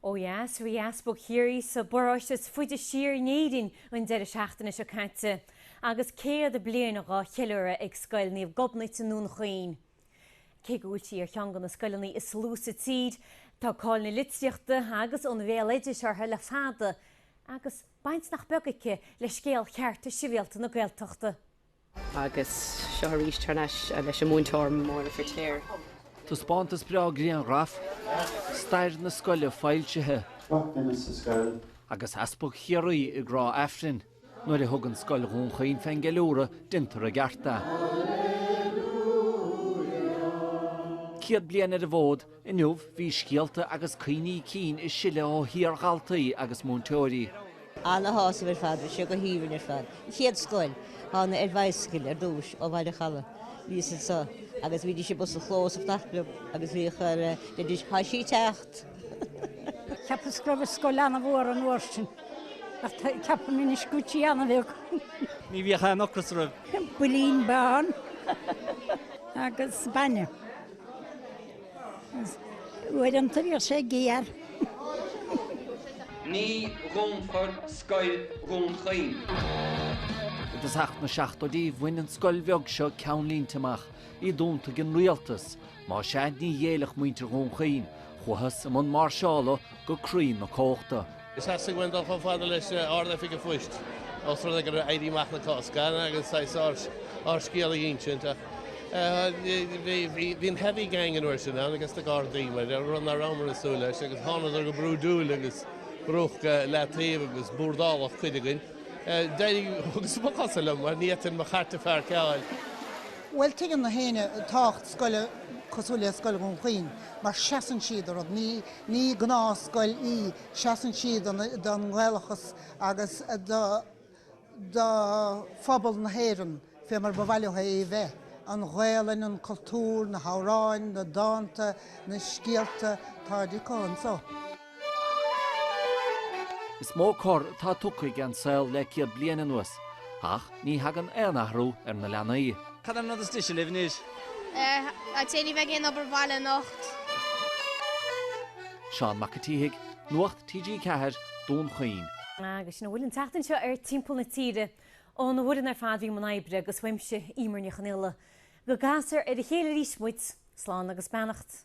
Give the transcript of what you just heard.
Ó dheas, bhí Easpag Chiarraí sa bparóiste is faide siar in Éirinn an deireadh seachtaine seo caite agus céad bliain dhá cheiliúradh ag Scoil Naomh Gobnait i nDún Chaoin. Cé go bhfuil sí ar cheann de na scoileanna is lú sa tír, tá cáil na litríochta agus an bhéaloidis uirthi le fada agus, Baint nach beag acu le scéal Chearta Sibhialta na Gaeltachta. Agus seo arís thar n-ais leis an múinteoir, Máirín Ní Fhirtéar. Taispeántas breá grianghraf, stair na scoile foilsithe. Agus Easpag Chiarraí ag rá Aifrinn nuair a thug scoil Dhún Chaoin fén gceiliúradh d'imir a gcearta. Céad bliain ar an bhfód. Inniu bhí scéalta agus cuimhní cinn ag sileadh ó iardhaltaí agus múinteoirí. Ana shásamhail ar fad, bhí sé go haoibhinn ar fad. Mo chéad scoil, thána ar bhicycle ar dtús ó Bhaile an Chalaidh, bhíos anseo agus bhídís i bpus an chlós ag fanacht liom agus bhíodh ar leidís Tá sí ag teacht! Cheapas go raibh an scoil ana mhór an uair sin ach ceapaim anois go bhfuil sí ana bheag. Ní bhíodh aon ocras orainn. Builín bán agus bainne. Uaireanta bhíodh sé géar. Ní dhúnfar scoil Dhún Chaoin. I dtosach na seachtóidí bhain an scoil bheag seo ceannlínte amach, í dúnta ag an rialtas, má sea ní ghéillfeadh muintir Dhún Chaoin, chuathas i mbun máirseála go croí na cumhachta. Is theastaigh uaim dul chomh fada leis an Ard-Oifig an Phoist, ós rud é go raibh Éirí Amach na Cásca ann agus saghas ár scéal a insint. Bhí an heavy gang an uair sin ann agus na Gardaí, mar dhea, rud nach rabhamar ag súil leis, agus thánadar go brúidiúil agus brúdh i leataobh agus búrdáladh cuid againn. D'éirigh thugas mo chosa liom mar ní fhéadfainn mo chairt a phairceáil. Bhuel, tuigeann gach éinne tábhacht scoile cosúil le Scoil Dhún Chaoin mar seasann sí do rud. Ní gnáth scoil í, seasann sí don nGaelachas agus do phobal na hÉireann fé mar ba mhaith leo é a bheith, an Ghaolainn, an cultúr, na hamhráin, na dánta, na scéalta, táid acu anso. Is mó cor atá tugtha ag an saol le céad bliain anuas, ach ní thagann aon athrú ar na leanaí. Cad é an rud is deise libh anois? Ní bheidh aon obair bhaile anocht? Seán Mac an tSíthigh, Nuacht TG4, Dún Chaoin. Agus sin a bhfuil an tseachtain seo ar Timpeall na Tíre. Ón bhfoireann ar fad a bhí i mbun oibre agus uaimse, Eimear Ní Chonaola. Go gcasfar ar a chéile arís muid, slán agus beannacht.